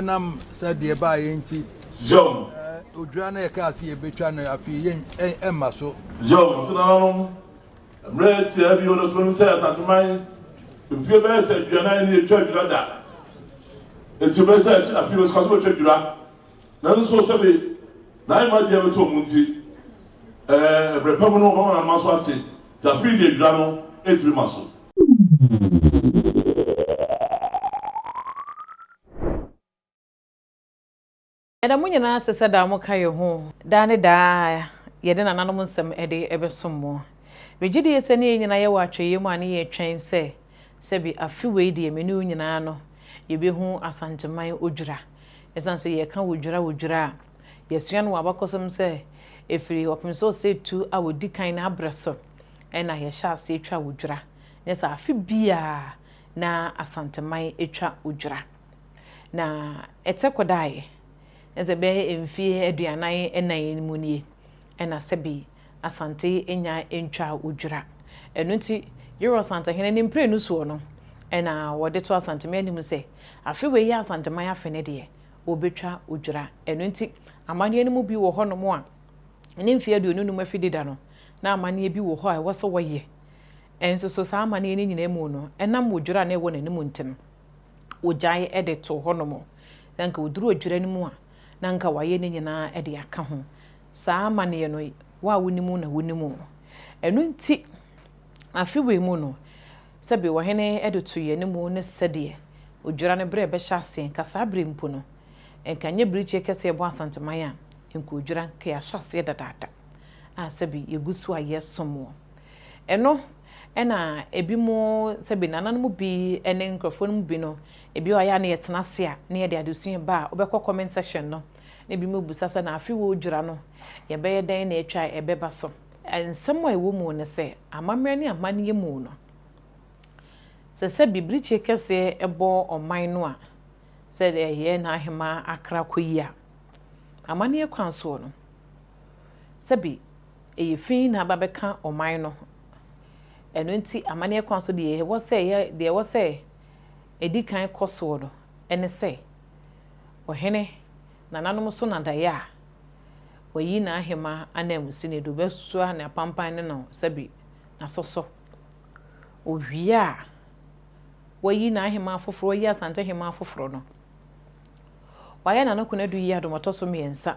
Ɛnam sɛ deɛ ɛbaeɛ nti, odwira no a yɛkaa sɛ yɛbɛtwa no afei yɛn ɛmma so. Yom nso nananom mmerɛ tiaa bio no tonom sɛ Asanteman mfeɛ bɛyɛ sɛ aduanan ni ɛtwa dwira da. Nti bɛyɛ sɛ ɛsi afei wɔsika so bɛtwa dwira. Nanso sɛbe na ayɛ ma deɛ bɛtɔ ɔmo nti, ɛɛ mmerɛ pa mu no wɔbɛma nananom aso ate. Nti afei deɛ dwira no ɛntumi ma so. Ɛda mo nyinaa ase sɛ daa moka yɛn ho. Daa ne daa yɛde nananom nsɛm de bɛsom mo. Megye die sɛ ne yɛn nyinaa yɛwɔ atwɛyɛ mu a ne yɛretwɛn sɛ sɛbi afe wei deɛ me ne wo nyinaa no yɛbɛhu Asanteman Odwira. Ɛsiane sɛ yɛka Odwira Odwira a yɛasua no wɔ abakɔsɛm sɛ ɛfiri ɔpem sɛ ɔsɛetu a ɔdi kan no abrɛ so na yɛhyɛ aseɛ twa Odwira. Nyɛ saa afe biara. na Asanteman atwa odwira. Na ɛtɛ kɔdaeɛ, na sɛ bɛyɛ mfeɛ aduanan nnan yi mu nie, ɛna sɛbe Asante nya ntwaa odwira. Ɛno nti, Yero Asantehene ne mprenu soɔ no, ɛna wɔde to Asanteman anim sɛ, afe wei yɛ Asanteman afe no deɛ, wɔbɛtwa odwira. Ɛno nti, amanneɛ no mu bi wɔ hɔnom a, ne mfeɛ aduonu nnum afidida no, na amanneɛ bi wɔ hɔ a ɛwɔ sɛ wɔyɛ Nso so saa amanneɛ no nyinaa mu no, ɛnam wɔ dwira a na ɛwɔ n'anim nti no, wɔgyae de too hɔnom. Na anka wɔduru odwira no mu a, na anka wɔayɛ ne nyinaa de aka ho. Saa amanneɛ no, wo a wonim na wonim. Ɛno nti, afe wei mu no, sɛbe ɔhene de too yɛn anim ne sɛdeɛ odwira no berɛ bɛhyɛ aseɛ, anka saa berɛ mpo no, anka nyɛ birikyeɛ kɛseɛ ɛbɔ Asanteman a, anka odwira anka yɛahyɛ aseɛ dadaada a sɛbe yɛgu so a yɛsom wɔ. Eno na ebinom sɛ bi nananom mu bi ne nkurɔfoɔ no mu bi no, ebi a yɛ a na yɛtena ase a na yɛde adesua ba a, wobɛkɔ comment section no na ebinom rebisa sɛ na afe wɔredwira no yɛbɛyɛ dɛn na atwa a ɛbɛba so. Nsɛm a ɛwɔ mu ne sɛ, amammerɛ ne amanneɛ mu no, sɛ sɛ bibirikye kɛseɛ bɔ ɔman no a, sɛ ɛyɛ n'ahemaa akra kɔ yi a, amanneɛ kwan soɔ no, sɛbi ɛyɛ fi na aba bɛka ɔman no. Ɛno nti amanneɛ kwan so deɛ ɛwɔ sɛ yɛ, deɛ ɛwɔ sɛ ɛdi kan kɔ soɔ no ne sɛ, Ɔhene nananom so na daeɛ a wayi n'ahema ananmusini do bɛsoa ne apampan ne no sɛbi n'aso so. Ɔwie a wayi n'ahema afoforɔ, wayi Asante hema afoforɔ no, wayɛ n'ano konadu yi adom ɔtɔ so mmiɛnsa.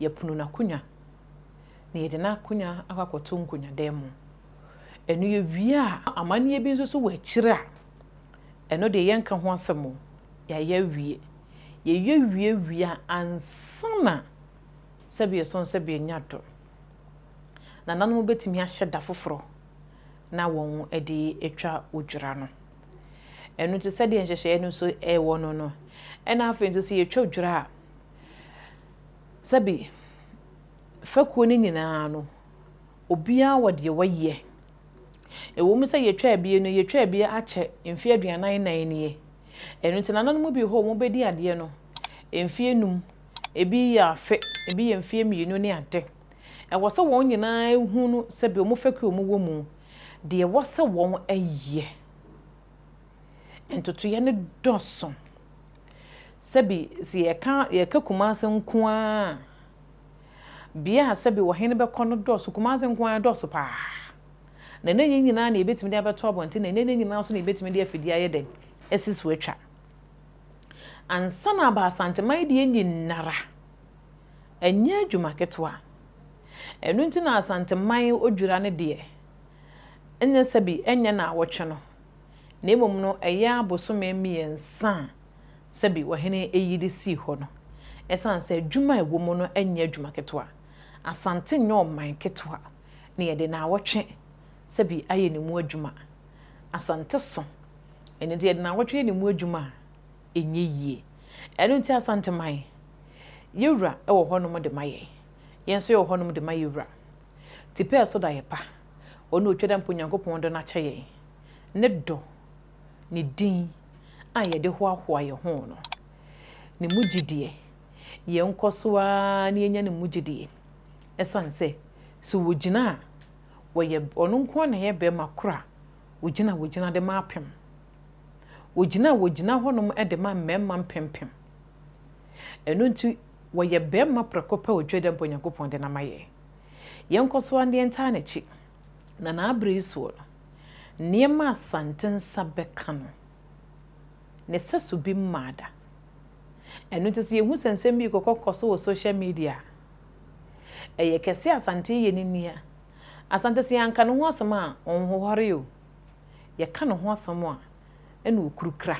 yɛpono n'akonnwa, na yɛde n'akonnwa akɔ akɔto nkonnwadan mu. Ɛno yɛwie a, amanneɛ bi nso so wɔ akyire a, ɛno deɛ yɛnka ho asɛm o, yɛayɛ awie. Yɛyɛ wie wie a, ansa na sɛdeɛ ɛsɔn sɛ bɛnya adɔ, nananom bɛtumi ahyɛ da foforɔ na wɔde atwa odwira no. Ɛno nti sɛdeɛ nhyehyɛeɛ no nso wɔ no no, ɛna afei nso sɛ yɛtwa odwira a, Sɛbi, fekuo no nyinaa no, obiara wɔ deɛ wayɛ. Ɛwɔ mu sɛ yɛtwaa bie no, yɛtwaa bie akyɛ mfeɛ aduanan nnan nie. Ɛno nti nananom mu bi hɔ wɔn bɛdi adeɛ no mfeɛ num, ebi yɛ afe, ebi yɛ mfeɛ mmienu ne ade. Ɛwɔ sɛ wɔn nyinaa hunu sɛbi wɔn fekuo a wɔwɔ mu deɛ ɛwɔ sɛ wɔyɛ. ntotoeɛ no dɔso. Sɛbi sɛ yɛka yɛka Kumasi nko ara a, bea a sɛbi ɔhene bɛkɔ no dɔso. Kumasi nko ara dɔso pa ara. Na ɛnyɛ ne nyinaa na yɛbɛtumi de abɛto abɔnten, na ɛnyɛ ne nyinaa nso na yɛbɛtumi de afidie ayɛ dɛn, asi so atwa. Ansa na aba Asanteman deɛ nyinara, ɛnyɛ adwuma ketewa. Ɛno nti na Asanteman odwira no deɛ, ɛnyɛ sɛbi ɛnyɛ nnawɔtwe no. na mmom no ɛyɛ abosome mmiɛnsa a sɛbi ɔhene yi de sii hɔ no. Ɛsiane sɛ adwuma a ɛwɔ mu no nyɛ adwuma ketewa, Asante nyɛ ɔman ketewa na yɛde nnawɔtwe sɛbi ayɛ ne mu adwuma. Asante so, ɛno nti yɛde nnawɔtwe yɛ ne mu adwuma a, ɛnyɛ yie. Ɛno nti Asanteman, yɛn wura wɔ hɔnom de ma yɛn, yɛn nso yɛwɔ hɔnom de ma yɛn wura. Tipɛɛso da yɛ pa. Ɔno na otwa da mpo Nyankopɔn dɔ no akyɛ yɛn, ne dɔ, ne din a yɛde hoahoa yɛn ho no, ne mu gyidie. Yɛnkɔ so ara na yɛnya ne mu gyidie ɛsiane sɛ sɛ wɔgyina a, wɔyɛ, ɔno nko ara na ɛyɛ barima korɔ a ɔgyina a wɔgyina de ma apem. Ɔgyina a wɔgyina hɔnom de ma mmarima mpempem. Ɛno nti wɔyɛ barima prɛko pɛ a otwa da mpo Nyankopɔn de no ama yɛn. Yɛnkɔ so ara na yɛntaa n'akyi, na n'abere yi soɔ no, nneɛma a Asante nsa bɛka no, ne sɛso bi mmaa da. Ɛno nti sɛ yɛhu sɛ nsɛm bi rekɔkɔ so wɔ social media a, ɛyɛ kɛse a Asante reyɛ no ni a, Asante sɛ yɛanka ne ho asɛm a, ɔnhohɔre o, yɛka ne ho asɛm a, ɛna ɔkurukura,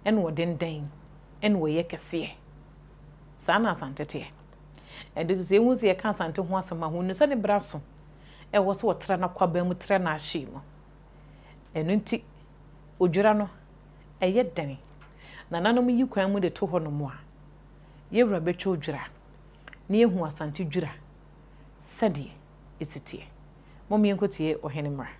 ɛna ɔdendɛn, ɛna ɔyɛ kɛseɛ. Saa na Asante teɛ. Ɛno nti, sɛ yɛhu sɛ yɛka Asante ho asɛm a, hunu sɛ ne bere aso. Ɛwɔ sɛ wɔtra n'akwaban mu tra n'ahye mu. Ɛno nti, odwira no, ɛyɛ den. Nananom yi kwan mu de to hɔnom a, yɛn wura bɛtwa odwira, na yɛahu Asante dwira sɛdeɛ ɛsi teɛ. Momma yɛnkɔtie ɔhene mmra.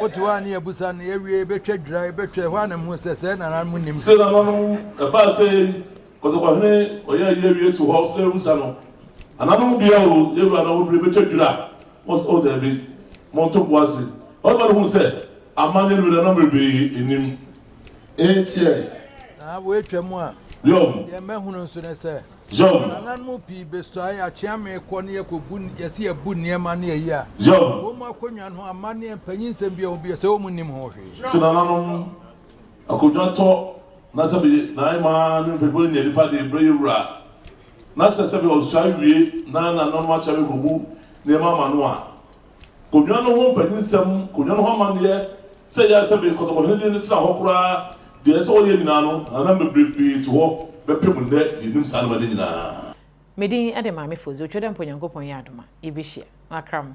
Wote hɔ a ne yɛabisa no, yɛawie, yɛbɛtwa dwira, yɛbɛtwa, ɛhɔ ara na mehuu sɛ sɛɛ na nananom nim. Sɛ nananom ɛbaa sɛ yɛn kɔtɔkɔhene ɔyɛ ayi awie to hɔ sɛ yɛabisa no, nananom deɛ o, yɛwura na wɔduru yɛbɛtwa dwira, wɔn sɛ o daabi, monto bo ase. Ɔbarima no huu sɛ amanneɛ no nananom bebree nnim. Enti ɛ. Na wɔatwa mu a, deɛ mɛhunu nso ne sɛ. Yom. Nananom no mu pii besuae, yɛakyea me kɔ ne yɛkɔbu, yɛse yɛbu nneɛma ne ayi a. Yom. Wɔn mu akonnwa no ho amanneɛ mpanyin nsɛm biara wɔn bio sɛ wɔn nnim ho hwee. Sɛ nananom akonnwa tɔ na sɛbe na ɛma me mpanyinfoɔ no nya nipa de brɛ yɛ wura na sɛ sɛbe ɔsua wie na nananom akyea me kɔbu nneɛma ama no a, Konwa no ho mpanyinsɛm, konwa no ho amanneɛ, sɛ ɛyɛ a sɛ me kɔtɔkɔhene de no tena hɔ koraa, deɛ ɛsɛ sɛ wɔyɛ nyinaa no, hanam bebree pii to hɔ bɛpem nnɛ, yɛnim saa nneɛma no nyinaa. Me din de Maame Fozu Otwodwo Mpa Onyankopɔn yɛ adom a, yɛbɛhyia. Makra mo.